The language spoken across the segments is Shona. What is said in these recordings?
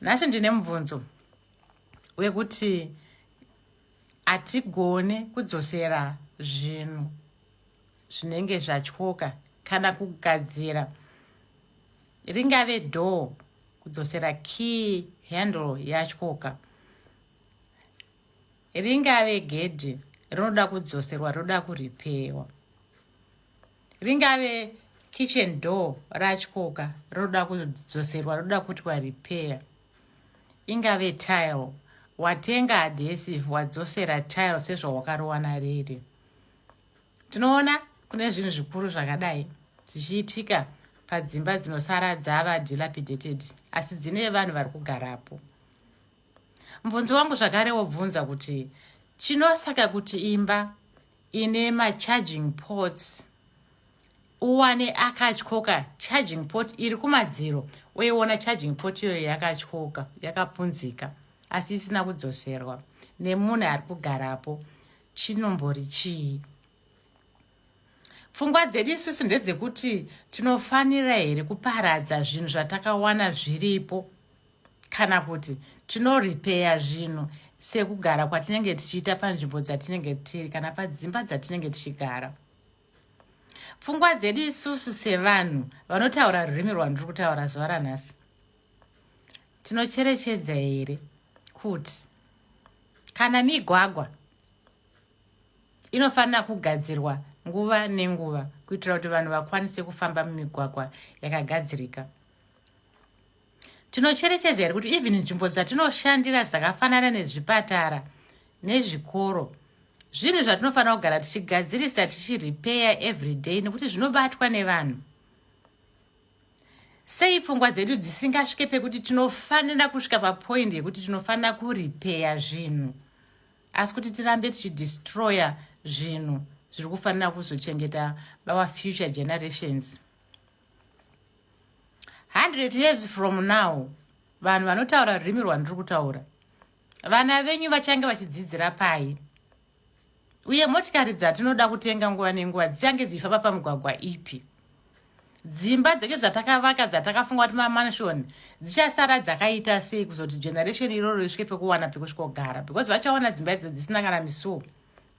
nhasi ndine mubvunzo wekuti hatigone kudzosera zvinhu zvinenge zvatyoka kana kugadzira ringave door kudzosera key handle yatyoka ringave gedhi rinoda kudzoserwa rinoda kuripewa ringave kitchen door ratyoka rinoda kudzoserwa rinoda kuitwa repair ingave tile watenga adhesive wadzosera tile sezvawakarowana riri tinoona kune zvinhu zvikuru zvakadai zvichiitika padzimba dzinosara dzava dilapidated asi dzine vanhu vari kugarapo mubvunzi wangu zvakare wobvunza kuti chinosaka kuti imba ine macharging ports uwane akatyoka charging port iri kumadziro uiona charging port iyoyo yakatyoka yakapunzika asi isina kudzoserwa nemunhu ari kugarapo chinombori chii pfungwa dzedu isusu ndedzekuti tinofanira here kuparadza zvinhu zvatakawana zviripo kana kuti tinoripeya zvinhu sekugara kwatinenge tichiita panzvimbo dzatinenge tiri kana padzimba dzatinenge tichigara pfungwa dzedu isusu sevanhu vanotaura rurimi rwandiri kutaura zuva ranhasi tinocherechedza here kuti kana migwagwa inofanira kugadzirwa nguva nenguva kuitira kuti vanhu vakwanise kufamba mumigwagwa yakagadzirika tinocherechedza here kuti even nzvimbo dzatinoshandira dzakafanana nezvipatara nezvikoro zvinhu zvatinofanira kugara tichigadzirisa tichirepeya every day nekuti zvinobatwa nevanhu sei pfungwa dzedu dzisingasvike pekuti tinofanira kusvika papoindi yekuti tinofanira kurepeya zvinhu asi kuti tirambe tichidestroyer zvinhu zviri kufanira kuzochengeta our future generations 100 years from now vanhu vanotaura rurimi rwandiri kutaura vana venyu vachange vachidzidzira pai uye motikari dzatinoda kutenga nguva nenguva dzichange dzichifamba pamugwagwa ipi dzimba dzedu dzatakavaka dzatakafunga kuti mamansion dzichasara dzakaita sei kuzoti generation iroro risvike pekuwana pekusvikogara because vachaona dzimba idzo dzisina kana misuo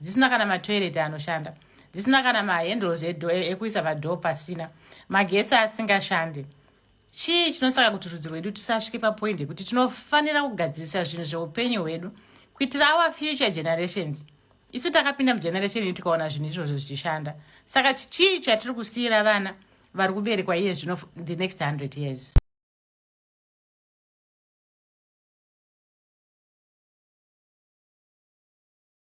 dzisina kana matoilet anoshanda dzisina kana mahandles edo e, ekuisa madoo pasina magetsi asingashande chii chinosaka kuti rudzi rwedu tisasvike papoindi yekuti tinofanira kugadzirisa zvinhu zveupenyu hwedu kuitira our future generations isu takapinda mugeneration ii tikaona zvinhu izvozvo zvichishanda saka chii chatiri kusiyira vana vari kuberekwa iye zvino the next 100 years